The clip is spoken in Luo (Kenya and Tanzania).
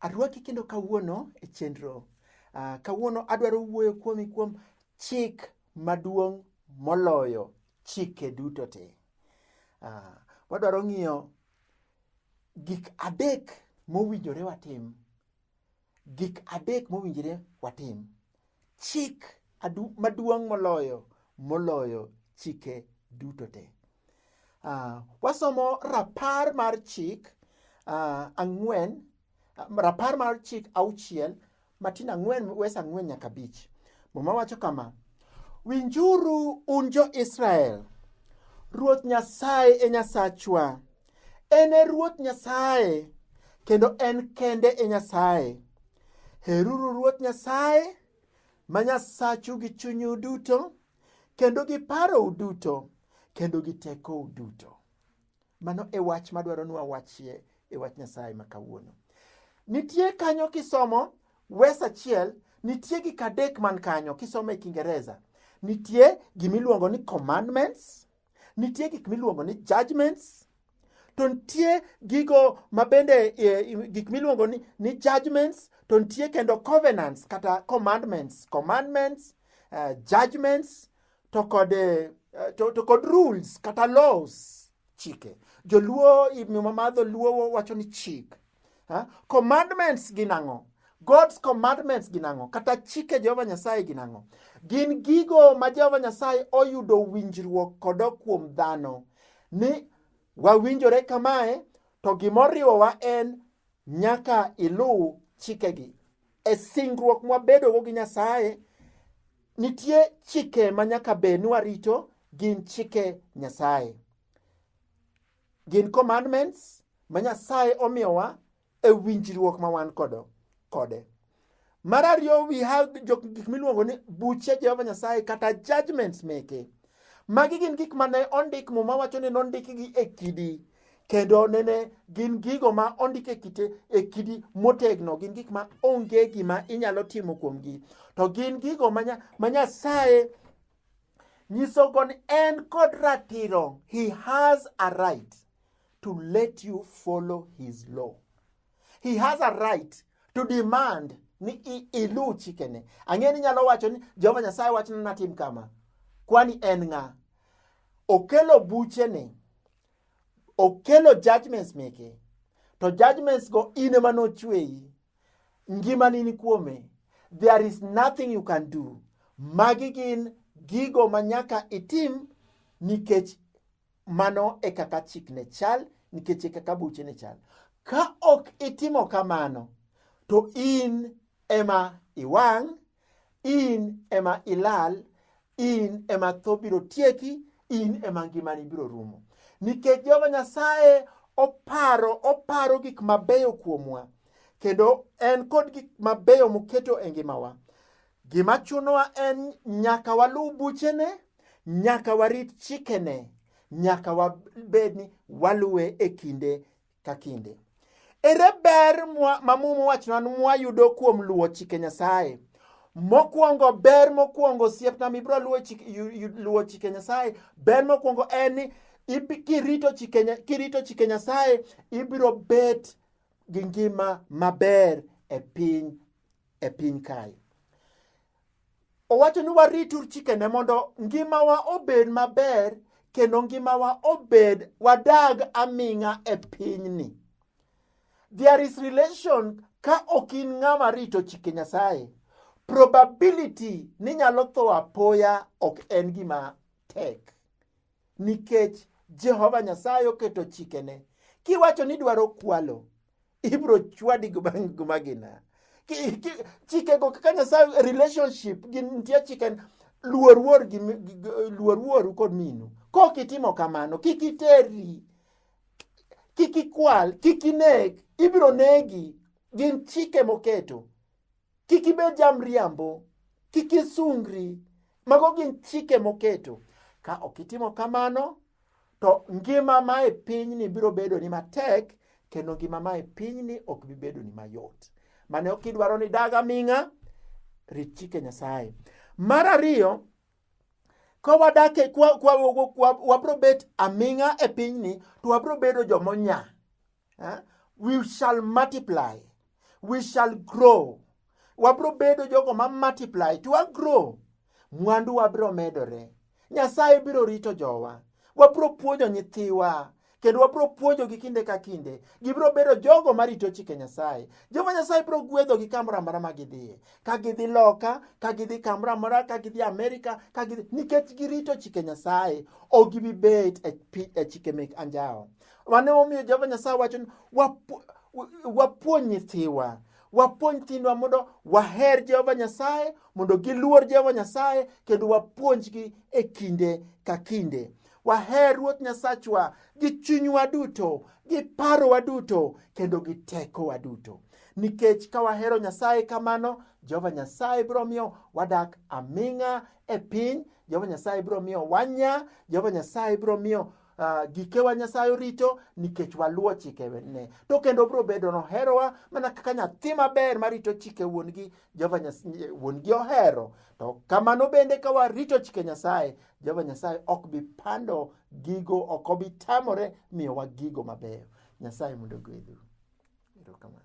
Arwaki kendo kawuono e chenro. Uh, kawuono adwaro wuoyo kuomi kuom chik maduong' moloyo chike duto te. Uh, wadwaro ng'iyo Gik adek mowinjore watim. Gik adek mowinjore watim. Chik maduong' moloyo moloyo chike duto te. Uh, wasomo rapar mar chik uh, ang'wen Rapar mar chik auchiel matin ang'wen wes ang'wen nyaka bich. Muma wacho kama, winjuru un jo-Israel, Ruoth Nyasaye e Nyasachwa, en e Ruoth Nyasaye kendo en kende e Nyasaye. Heruru Ruoth Nyasaye ma Nyasachu gi chunyu duto kendo gi parou duto kendo gi tekou duto. Mano e wach madwaro ni wawachie e wach Nyasaye ma kawuono. Nitie kanyo kisomo wes achiel, nitie gik adek man kanyo kisomo e Kiingereza. Nitie gimiluongo ni commandments, nitie gik miluongo ni judgments, to nitie gigo ma bende e, gik miluongo ni, ni judgments to nitie kendo covenants kata commandments commandments uh, judgments to kod, eh, to, to kod rules kata laws chike joluo muma mar dholuo wacho ni chik ha? commandments gin ang'o God's commandments gin ang'o kata chike Jehova Nyasaye gin ang'o gin gigo ma Jehova Nyasaye oyudo winjruok kodo kuom dhano ni wawinjore kamae to gimoriwowa en Nyaka iluw chikegi. E singruok mwabedogo gi Nyasaye, nitie chike ma nyaka bed ni warito, gin chike Nyasaye. Gin commandments ma Nyasaye omiyowa e winjruok ma wan kodo kode. Mar ariyo we have gik miluongo ni buche Jehova Nyasaye kata judgments meke. Magi gin gik mane ondik muma wacho ni nondikgi e kidi kendo nene gin gigo ma ondik e kite e kidi motegno gin gik ma onge gima inyalo timo kuomgi to gin gigo ma Nyasaye nyisogo ni en kod ratiro he has a right to let you follow his law he has a right to demand ni iluw chikene. Ang'e ni nyalo wacho ni Jehova Nyasaye wachna natim kama, kwani en ng'a? Okelo buchene, okelo judgments meke, to judgments go in ema nochweyi, ngimani ni kuome. There is nothing you can do. Magi gin gigo ma nyaka itim nikech Mano e kaka chikne chal nikech e kaka buchene chal. Ka ok itimo kamano, to in ema iwang', in ema ilal, in ema tho biro tieki, in ema ngimani biro rumo. Nikech Jehova Nyasaye oparo oparo gik mabeyo kuomwa kendo en kod gik mabeyo moketo e ngimawa Gima chunowa en nyaka waluw buchene, nyaka warit chikene, nyaka wabed ni waluwe e kinde ka kinde. Ere ber ma Muma wachona mwayudo kuom luwo chike Nyasaye? Mokwongo, ber mokwongo osiepna mibiro luwo chike Nyasaye, ber mokwongo en ni kirito chike, kirito chike Nyasaye ibiro bet gi ngima maber e piny e piny kae. Owacho ni waritur chikene mondo ngimawa obed maber kendo ngimawa obed wadag aming'a e pinyni. There is relation ka ok in ng'ama rito chike Nyasaye, probability ni nyalo tho apoya ok en gima tek nikech Jehova Nyasaye oketo chikene. Kiwacho ni dwaro kwalo, ibro chwadi gumagina chikego kaka nyasaye relationship nitie chike luor wuor gi luor wuoru kod minu kok itimo kamano kik iterri kik ikwal kik inek ibiro negi gin chike moketo kik ibed jamriambo, kik isungri. Mago gin chike moketo. Ka ok itimo kamano, to ngima ma e pinyni biro bedo ni matek kendo ngima ma e pinyni ok bi bedo ni mayot. Mane ok idwaro ni dag aming'a, rit chike Nyasaye. Mar ariyo, ka wadak e, wabro bet aming'a e pinyni to wabro bedo jomonya. eh? we shall multiply we shall grow wabro bedo jogo ma multiply to a grow mwandu wabro medore nyasaye biro rito jowa wabro puonjo nyithiwa kendo wabro puonjogi kinde ka kinde gibiro bedo jogo marito chike nyasaye jehova nyasaye biro gwedhogi kamoro amora ma gidhiye ka gidhi loka ka gidhi kamoro amora ka gidhi amerika ka gidhi nikech girito chike nyasaye ok gibi bet e, e chike mek anjawo Mano emomiyo Jehova Nyasaye wacho ni wapuonj nyithiwa, wapuonj nyithindwa mondo waher Jehova Nyasaye, mondo giluor Jehova Nyasaye, kendo wapuonjgi e kinde ka kinde. Waher Ruoth Nyasachwa gi chunywa duto, gi parowa duto, kendo gi tekowa duto. Nikech ka wahero Nyasaye kamano, Jehova Nyasaye biro miyo wadak aming'a e piny, Jehova Nyasaye biro miyo wanya, Jehova Nyasaye biro miyo Uh, gikewa Nyasaye orito nikech waluwo chikene. To kendo obiro bedo noherowa mana kaka nyathi maber marito chike wuon-gi, Jehova Nyasaye wuon-gi ohero. To kamano bende ka warito chike Nyasaye, Jehova Nyasaye ok bi pando gigo, ok obi tamore miyowa gigo mabeyo. Nyasaye mondo ogwedhu. Erokamano.